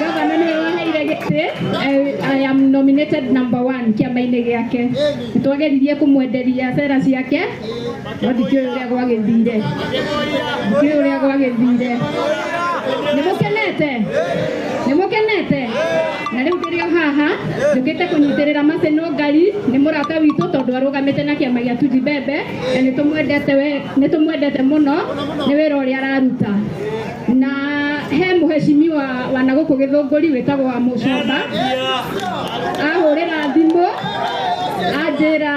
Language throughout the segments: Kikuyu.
gavana nĩwe waheire gĩtĩ I am nominated number one kĩama-inĩ gĩake nĩtwageririe kũmwenderia sera ciake no ndikĩũĩ ũrĩa gwagĩthire ndikĩũĩ ũrĩa gwagĩthire nĩmũkenete nĩmũkenete na rĩu ndĩrĩo haha njũkĩte kũnyitĩrĩra macenũ ngari nĩ mũrata witũ tondũ arũgamĩte na kĩama gĩa tuji mbembe na nĩtũmwendete mũno nĩ wĩra ũrĩa araruta na he mũheshimiwa wa na gũkũ gĩthũngũri wĩtagwo wa mũcomba ahũrĩra thimũ anjĩra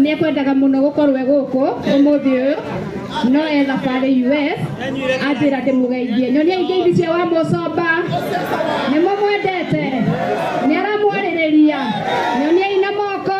nĩ ekwendaga mũno gũkorwo e gũkũ ũmũthĩ ũyũ no e thabarĩ US anjĩra ndĩmũgeithie nyonia ingĩithi cia wa mũcomba nĩ mũmwendete nĩ aramwarĩrĩria nyonia ina moko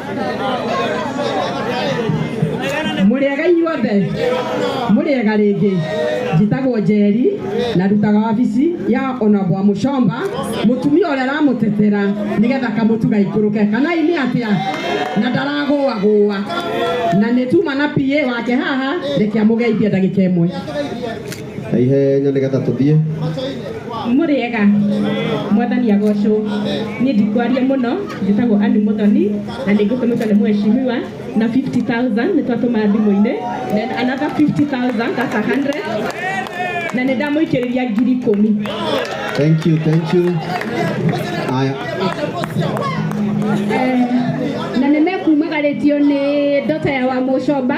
mũrĩega inyuothe mũrĩega rĩngĩ njĩtagwo njeri na ndutaga wabici ya onabwa mũcomba mũtumia ũrĩa aramũtetera nĩgetha kamũtuga ikũrũke kana nĩ atĩa na ndaragũagũa na nĩtuma na pa wake haha reke amũgeithie ndagĩka ĩmwe na ihenya nä getha tå thiä mũrĩega mwathani agocwo niĩ ndikwaria mũno njĩtagwo ani mũthoni na nĩ ngũtũmĩtwo nĩ mweshimiwa na 50000 nĩ twatũma thimũ-inĩ then another 50000 that's 100 na nĩ ndamũikĩrĩria ngiri ikũmi thank you thank you aya Eh, na nĩ mekumagarĩtio nĩ ndota ya wa mũcomba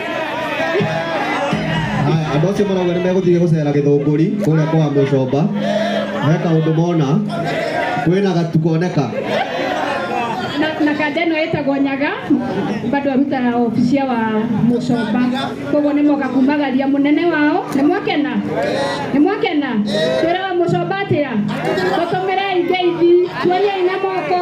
Haya, andå acio marauga nä megåthiä gå cera gä thå ngå ri kå rä a kwa må comba he kaå ndå mona kwä na gatu koneka na, na kanda ĩno ĩtagwo nyaga bado arutaga obicia wa mũcomba koguo nĩ moka kumagaria mũnene wao nĩ mwakena nĩ mwakena twĩra wa mũcomba atĩa tũtũmĩre ingeithi tuorie ina moko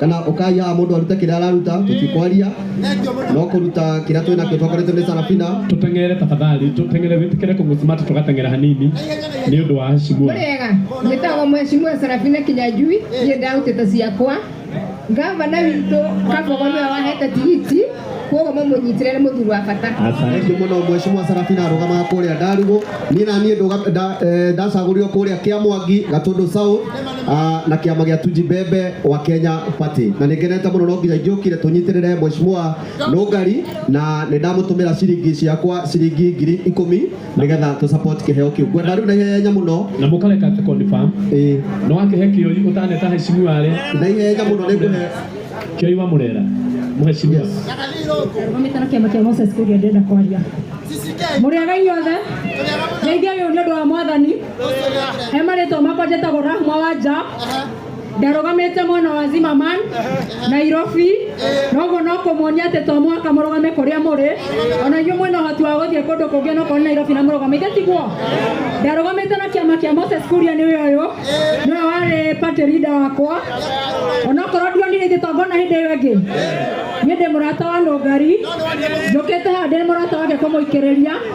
kana ũkai haha mũndũ arute kĩrĩa araruta tũtikwaria no kũruta kĩrĩa twĩ nakĩo twakoretwo nĩ sarafina tuteng'ere tafadhali tuteng'ere witikire kung'usimata tugateng'era hanini ni undu wa heshimua Murega, nitagwo mheshimiwa Sarafina Kinyajui, ndiye ndautete ciakwa. Gavana witũ Kabogo nĩwe wahete tigiti, kuoguo mamũnyitire nĩ mũthuri wa bata. thengiũ mũno mweshimwa sarafina arũgamaga kũrĩa ndarugũ niĩ na niĩ ndũga- nda- eh, ndacagũrirwo kũrĩa kĩa mwangi gatũndũ south Ah, na kiama gia Tuji Bebe wa Kenya Party na ningenete muno no nginya ngiukire tunyitirire mheshimiwa Nugari na nindamutumira ciringi ciakwa ciringi ngiri ikumi nigetha tu support kiheo kiu ngwenda riu na ihenya muno na mukareka tu confirm eh no akihe kioi utaneta heshimu wale na ihenya muno nikuhe kioi wa murera mheshimiwa Mamitano kiama kia Moses Kuria ndenda kwaria. Muriaga inyuothe. Ngeithia uyu ni undu wa mwathani. he marĩtwa makwa njĩtagwo rahma wa nja ndarũgamĩte mwena wa zimaman nairobi noguo no kũmuonia atĩ to mũhaka mũrũgame kũrĩa mũrĩ ona inyuĩ mwena ũhoti wa gũthiĩ kũndũ kũngĩ no kũrĩ nairobi na mũrũgamĩte tiguo ndarũgamĩte na kĩama kĩa moses kuria nĩ ũyũ ũyũ nĩwe warĩ party leader wakwa onakorwo ndionire ithe tongona hĩndĩ ĩyo ĩngĩ niĩ ndĩ mũrata wa nũngari njũkĩte haha ndĩ mũrata wake kũmũikĩrĩria